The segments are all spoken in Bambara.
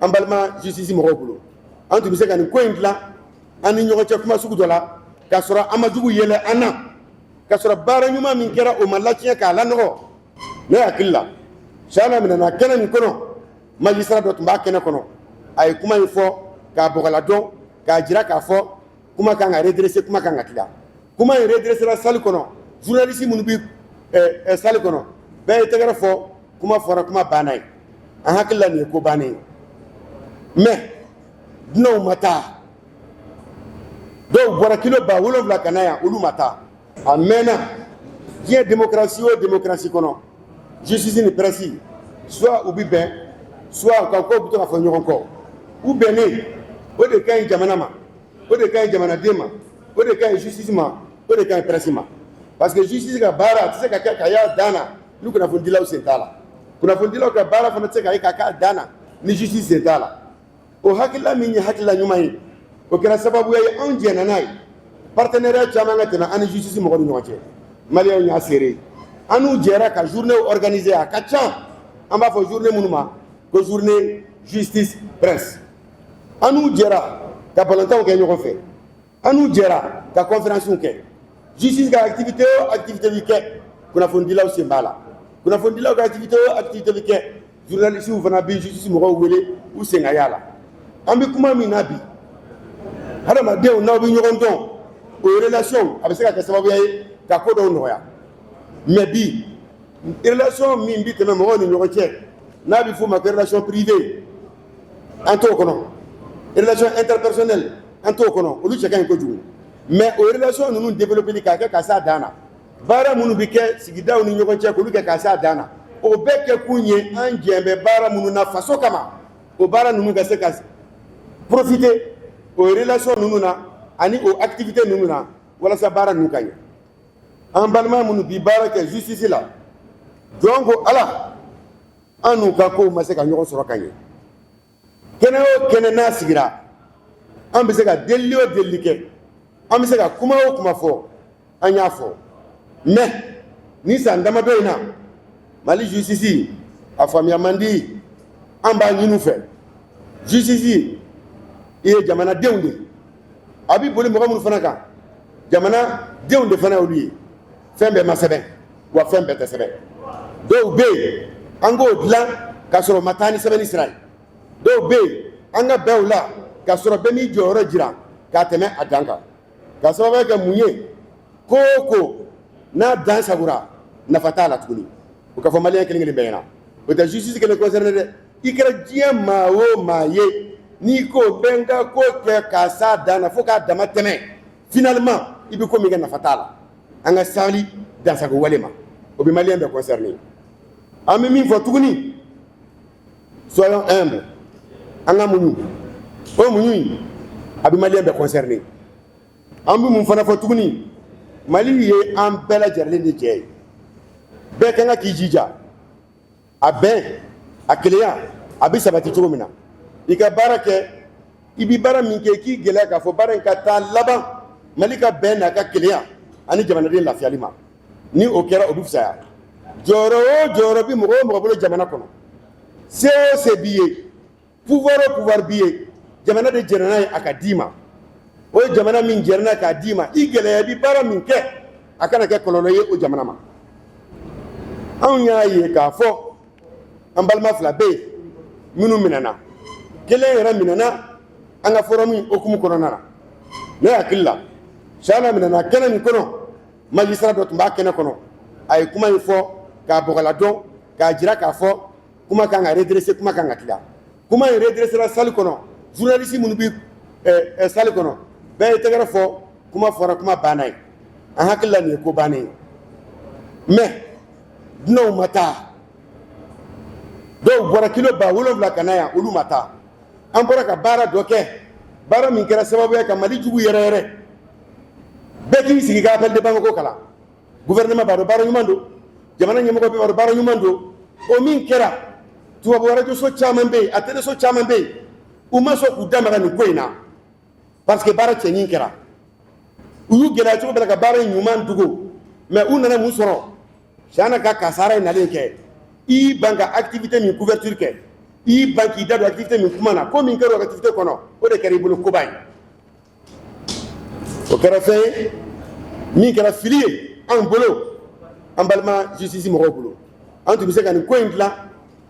an balima justice mɔgɔw bolo an tun bɛ se ka nin ko in dilan an ni ɲɔgɔn cɛ kuma sugu dɔ la k'a sɔrɔ an ma jugu yɛlɛ an na k'a sɔrɔ baara ɲuman min kɛra o ma latiɲɛ k'a lanɔgɔ ne hakili la Chahana minɛna kɛnɛ min kɔnɔ magistrat dɔ tun b'a kɛnɛ kɔnɔ a ye kuma in fɔ k'a bɔgɔla dɔn k'a jira k'a fɔ kuma kan ka redresser kuma kan ka tila kuma in redressera salle kɔnɔ journaliste minnu bi eh, salle kɔnɔ bɛɛ ye tɛgɛrɛ fɔ kuma fɔra kuma banna ye an hakili la nin ye ko bannen ye mais dunanw ma taa dɔw bɔra kilo ba wolonwula ka na yan olu ma taa a mɛnna diɲɛ démocratie o démocratie kɔnɔ justice ni presse soit u bi bɛn soit u ka kow bi to ka fɔ ɲɔgɔn kɔ u bɛnnen o de ka ɲi jamana ma o de ka ɲi jamanaden ma o de ka ɲi justice ma o de ka ɲi presse ma parce que justice ka baara a tɛ se ka kɛ ka y'a dan na ni kunnafonidilaw sen t'a la kunnafonidilaw ka baara fana tɛ se ka ye ka k'a dan na ni justice sen t'a la o hakilila min ye hakilila ɲuman ye o kɛra sababuya ye anw jɛnna n'a ye partenariat caman ka tɛmɛ an ni justice mɔgɔw ni ɲɔgɔn cɛ maliyɛnw y'a seere an n'u jɛra ka journée organiser a ka ca an b'a fɔ journée minnu ma ko journée justice presse an n'u jɛra ka balontanw kɛ ɲɔgɔn fɛ an n'u jɛra ka conférencew kɛ justice ka activité o activité bi kɛ kunnafonidilaw sen b'a la kunnafonidilaw ka activité o activité bi kɛ journalistew fana bɛ justice mɔgɔw wele u sen ka y'a la an bɛ kuma min na bi hadamadenw n'aw bɛ ɲɔgɔn dɔn o relation a bɛ se ka kɛ sababuya ye ka ko dɔw nɔgɔya mais bi relation min bɛ tɛmɛ mɔgɔw ni ɲɔgɔn cɛ n'a bɛ f'o ma ko relation privée an t'o kɔnɔ relation interpersonnelle an t'o kɔnɔ olu cɛ ka ɲi kojugu mais o relation ninnu développer k'a kɛ ka s'a dan na baara minnu bɛ kɛ sigidaw ni ɲɔgɔn cɛ k'olu kɛ ka s'a dan na o bɛɛ kɛ kun ye an jɛn bɛ baara minnu na faso kama o baara ninnu ka se ka profiter o relation ninnu na ani o activité ninnu na walasa baara ninnu ka ɲɛ an balima minnu bi baara kɛ justice la jɔn ko ala an n'u ka kow ma se ka ɲɔgɔn sɔrɔ ka ɲɛ kɛnɛ o kɛnɛ n'a sigira an bɛ se ka delili o delili kɛ an bɛ se ka kuma o kuma fɔ an y'a fɔ mais nin san damadɔ in na Mali justice a faamuya man di an b'a ɲini u fɛ justice i ye jamanadenw de ye a bɛ boli mɔgɔ minnu fana kan jamanadenw de fana y'olu ye fɛn bɛɛ ma sɛbɛn wa fɛn bɛɛ tɛ sɛbɛn dɔw bɛ yen an k'o dilan k'a sɔrɔ ma taa ni sɛbɛnni sira ye dɔw bɛ yen an ka bɛn o la k'a sɔrɔ bɛɛ m'i jɔyɔrɔ jira k'a tɛmɛ a dan kan k'a sababuya kɛ mun ye ko o ko n'a dan sagora nafa t'a la tuguni o ka fɔ maliyɛn kelen kelen bɛɛ ɲɛna o tɛ justice kelen concerné dɛ i kɛra diɲɛ maa o maa ye n'i ko n bɛ n ka ko kɛ k'a s'a dan na fo k'a dama tɛmɛ finalement i bɛ ko min kɛ nafa t'a la an ka sabali dansago wale ma o bɛ maliyɛn bɛɛ concerné an bɛ min fɔ tuguni soyons humbles an ka muɲu o muɲu in a bɛ maliyɛn bɛɛ concerné an bɛ mun fana fɔ tuguni mali ye an bɛɛ lajɛlen de jɛ ye bɛɛ ka kan k'i jija a bɛn a kelenya a bɛ sabati cogo min na i ka baara kɛ i bɛ baara min kɛ k'i gɛlɛya k'a fɔ baara in ka taa laban mali ka bɛn n'a ka kelenya ani jamanaden lafiyali ma ni o kɛra o bɛ fisaya jɔyɔrɔ o jɔyɔrɔ bɛ mɔgɔ o mɔgɔ bolo jamana kɔnɔ se o se b'i ye pouvoir o pouvoir b'i ye jamana de jɛnna n'a ye a ka d'i ma o jamana min jɛnna k'a d'i ma i gɛlɛya i bɛ baara min kɛ a kana kɛ kɔlɔlɔ ye o jamana ma anw y'a ye k'a fɔ an balima fila bɛ yen minnu minɛna kelen yɛrɛ minɛna an ka forum in hukumu kɔnɔna na ne hakili la chahana minɛna kɛnɛ min kɔnɔ magistrat dɔ tun b'a kɛnɛ kɔnɔ a ye kuma in fɔ k'a bɔgɔladon k'a jira k'a fɔ kuma kan ka redressé kuma kan ka tilen kuma in redresséra salle kɔnɔ journaliste minnu bɛ eh, eh, salle kɔnɔ bɛɛ ye tɛgɛrɛ fɔ kuma fɔra kuma banna ye an hakili la nin ye ko bannen ye mais dunanw ma taa dɔw bɔra kilo ba wolonwula ka na yan olu ma taa an bɔra ka baara dɔ kɛ baara min kɛra sababu ye ka mali jugu yɛrɛ yɛrɛ bɛɛ k'i sigi ka appel de bamako kalan gouvernement b'a dɔn baara ɲuman don jamana ɲɛmɔgɔ bɛɛ b'a dɔn baara ɲuman don o min kɛra tubabu arajoso caman bɛ yen a teleso caman bɛ yen u ma sɔn k'u da maga nin ko in na parce que baara cɛɲin kɛra u y'u gɛlɛya cogo bɛɛ la ka baara in ɲuman dogo mais u nana mun sɔrɔ chahana ka kasara in nalen kɛ i y'i ban ka activité min couverture kɛ i y'i ban k'i da don activité min kuma na ko min kɛra o activité kɔnɔ o de kɛra i bolo koba ye o kɛra fɛn ye min kɛra fili ye anw bolo an balima justice mɔgɔw bolo an tun bɛ se ka nin ko in dilan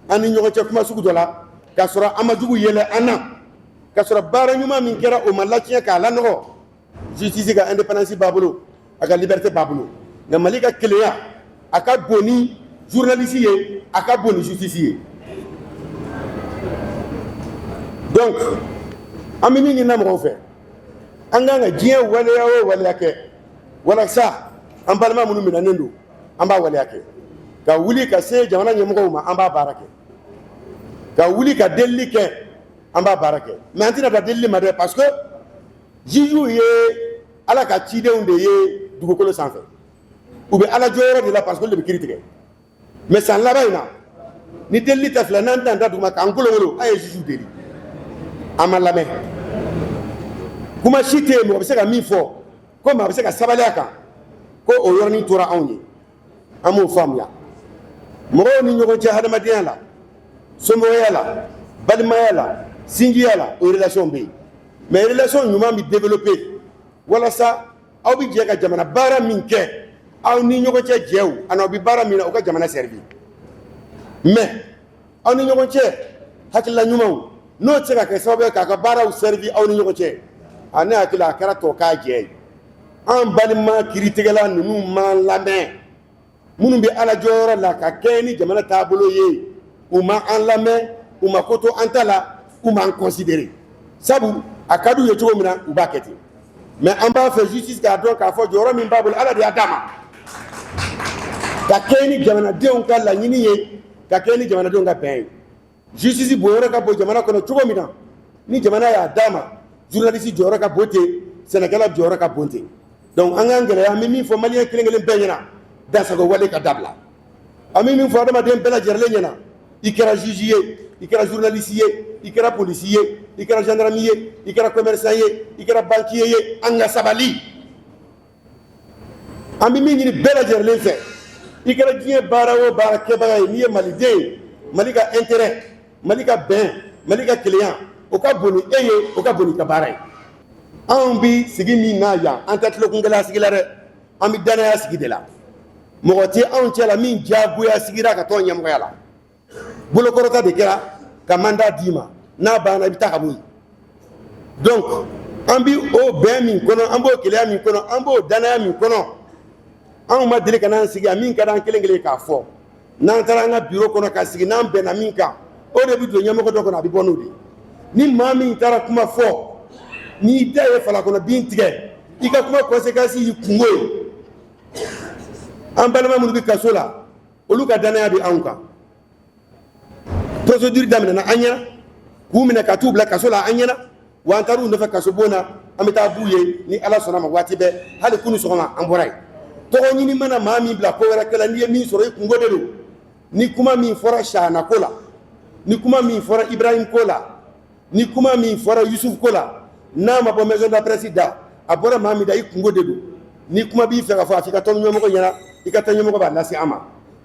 an ni ɲɔgɔn cɛ kuma sugu dɔ la k'a sɔrɔ an ma jugu yɛlɛ an na k'a sɔrɔ baara ɲuman min kɛra o ma latiɲɛ k'a lanɔgɔ justice ka indépendance b'a bolo a ka liberté b'a bolo nka mali ka kelenya a ka bon ni journaliste ye a ka bon ni justice ye donc an bɛ min ɲini na mɔgɔw fɛ an k'an ka diɲɛ waleya o waleya kɛ walasa an balima minnu minɛnen don an b'a waleya kɛ ka wuli ka se jamana ɲɛmɔgɔ ma an b'a baara kɛ ka wuli ka delili kɛ an b'a baara kɛ mais an tɛna dan delili ma dɛ pa juges ye Ala ka cidenw de ye dugukolo sanfɛ u bɛ Ala jɔyɔrɔ de la parce que olu de bɛ kiri tigɛ mais san laban in na ni delili tɛ fila n'an tɛna da duguma k'an kolonkolon an ye juges deli an ma lamɛn kuma si tɛ yen mɔgɔ bɛ se ka min fɔ ko maa bɛ se ka sabali a kan ko o yɔrɔnin tora anw ye an b'o faamuya mɔgɔw ni ɲɔgɔn cɛ hadamadenya la somɔgɔya la balimaya la sinjiya la o relation bɛ yen mais relation ɲuman bɛ développer walasa aw bɛ jɛ ka jamana baara min kɛ aw ni ɲɔgɔn cɛ jɛw ani aw bɛ baara min na o ka jamana servir mais aw ni ɲɔgɔn cɛ hakilila ɲumanw n'o tɛ se ka kɛ sababu ye k'a ka baaraw servir aw ni ɲɔgɔn cɛ a ne hakili la a kɛra tɔ k'a jɛ ye an balima kiritigɛla ninnu m'an lamɛn minnu bɛ ala jɔyɔrɔ la ka kɛɲɛ ni jamana taabolo ye u ma an lamɛn u ma ko to an ta la u m'an considérer sabu a ka d'u ye cogo min na u b'a kɛ ten mais an b'a fɛ justice k'a dɔn k'a fɔ jɔyɔrɔ min b'a bolo ala de y'a d'a ma ka kɛɲɛ ni jamanadenw ka laɲini ye ka kɛɲɛ ni jamanadenw ka bɛn ye justice bonyɔrɔ ka bon jamana kɔnɔ cogo min na ni jamana y'a d'a ma journaliste jɔyɔrɔ ka bon ten sɛnɛkɛla jɔyɔrɔ ka bon ten donc an k'an gɛlɛya an bɛ min fɔ maliyɛn kelen kelen bɛɛ ɲɛna dansagon wale ka dabila an bɛ min fɔ adamaden bɛɛ lajɛrɛlen ɲɛna i kɛra juge ye i kɛra journaliste ye i kɛra polisi ye i kɛra gendarme ye i kɛra commerçant ye i kɛra banquier ye an ka sabali an bɛ min ɲini bɛɛ lajɛrɛlen fɛ i kɛra diɲɛ baara o baara kɛbaga ye n'i ye maliden ye mali ka intérêt mali ka bɛn mali ka kelenya o ka bon ni e ye o ka bon n'i ka baara ye anw bɛ sigi min na yan an tɛ tulokungɛlɛya sigi la dɛ an bɛ danaya sigi de la mɔgɔ tɛ anw cɛla la min diyagoya sigira ka tɔn ɲɛmɔgɔya la bolokɔrɔta de kɛra ka mandat d'i ma n'a banna i bɛ taa ka bɔ yen donc an bɛ o bɛn min kɔnɔ an b'o kelenya min kɔnɔ an b'o danaya min kɔnɔ anw ma deli ka n'an sigi yan min ka d'an kelen kelen ye k'a fɔ n'an taara an ka biro kɔnɔ ka sigi n'an bɛnna min kan o de bɛ don ɲɛmɔgɔ dɔ kɔnɔ a bɛ bɔ n'o de ye ni maa min taara kuma fɔ n'i da ye fala kɔnɔ bin tigɛ i ka kuma conséquence y'i kunko ye an balima minnu bɛ kaso la olu ka danaya bɛ anw kan procédure daminɛna an ɲɛna k'u minɛ ka t'u bila kaso la an ɲɛna wa an taar'u nɔfɛ kaso bon na an bɛ taa b'u ye ni ala sɔnna ma waati bɛɛ hali kunu sɔgɔma an bɔra yen tɔgɔ ɲini mana maa min bila ko wɛrɛ kɛla n'i ye min sɔrɔ i kungo de don ni kuma min fɔra sahana ko la ni kuma min fɔra ibrahim ko la ni kuma min fɔra yusufu ko la n'a ma bɔ maison de la presse da a bɔra maa min da i kungo de don ni kuma b'i fɛ ka fɔ a f'i ka tɔn ɲɛmɔgɔ ɲɛna i ka tɔn ɲɛmɔgɔ b'a lase an ma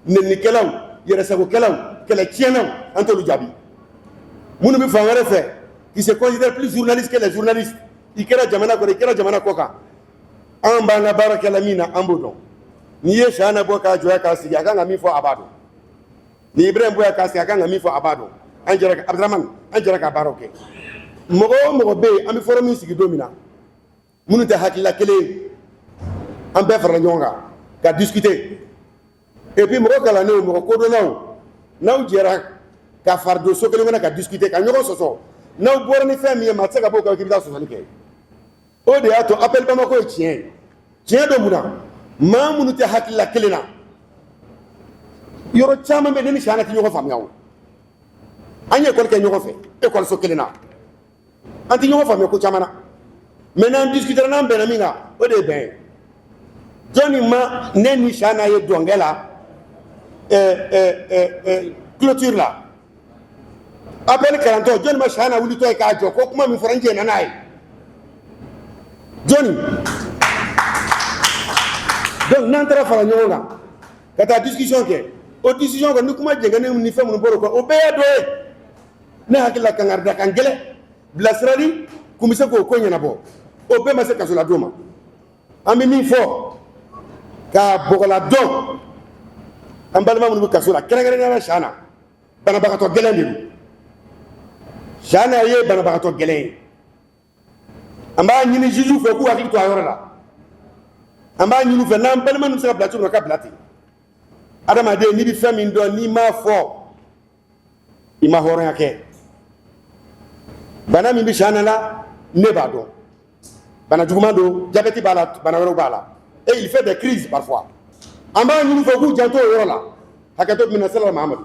nɛnnikɛlaw yɛrɛsagokɛlaw kɛlɛtiɲɛnaw an t'olu jaabi minnu bɛ fan wɛrɛ fɛ qui se considèrent plus journalistes que les journalistes i kɛra jamana kɔnɔ i kɛra jamana kɔ kan an b'an ka baara kɛla min na an b'o dɔn n'i ye sahana bɔ k'a jɔya k'a sigi a kan ka min fɔ a b'a dɔn ni ibrahim bɔ k'a sigi a kan ka min fɔ a b'a dɔn an jɛra abdramane an jɛra ka baaraw kɛ mɔgɔ o mɔgɔ bɛ yen an bɛ forum min sigi don min na minnu tɛ hakilila kelen an bɛɛ farala ɲɔgɔn kan ka discuter et puis mɔgɔ kalannenw mɔgɔ kodɔnnaw n'aw jɛra ka fari don so kelen kɔnɔ ka discuter ka ɲɔgɔn sɔsɔ n'aw bɔra ni fɛn min ye maa tɛ se ka bɔ o kan k'i bɛ taa sɔsɔli kɛ o de y'a to appel Bamako ye tiɲɛ ye tiɲɛ don mun na maa minnu tɛ hakilila kelen na yɔrɔ caman bɛ ne ni Sahana tɛ ɲɔgɔn faamuya o an ye école kɛ ɲɔgɔn fɛ école kelen na an tɛ ɲɔgɔn faamuya ko caman na mais n'an discutera n'an bɛnna min kan o de ye bɛn ye jɔnni ma ne ni Sahana ye dɔnkɛ la clôture la appel nin kalantɔ jɔnni ma sahana wulitɔ ye k'a jɔ ko kuma min fɔra n jɛnna n'a ye jɔnni donc n'an taara fara ɲɔgɔn kan ka taa discussion kɛ o discussion kɔ ni kuma jɛngɛnenw ni fɛn minnu bɔr'o kan o bɛɛ ye dɔ ye ne hakili la kangarida kan gɛlɛn bilasirali kun bɛ se k'o ko ɲɛnabɔ o bɛɛ ma se kasoladon ma an bɛ min fɔ k'a bɔgɔladon an balima minnu bɛ kaso la kɛrɛnkɛrɛnnenya la sahana banabagatɔ gɛlɛn de don sahana ye banabagatɔ gɛlɛn ye an b'a ɲini jugew fɛ k'u hakili to a yɔrɔ la an b'a ɲini u fɛ n'an balima ninnu bɛ se ka bila cogo min na ka bila ten adamaden n'i bɛ fɛn min dɔn n'i m'a fɔ i ma hɔrɔnya kɛ bana min bɛ Sahana la ne b'a dɔn bana juguman don jabɛti b'a la bana wɛrɛw b'a la et il fait des crises parfois an b'a ɲini u fɛ k'u janto o yɔrɔ la hakɛto minɛ sira la Mahamadu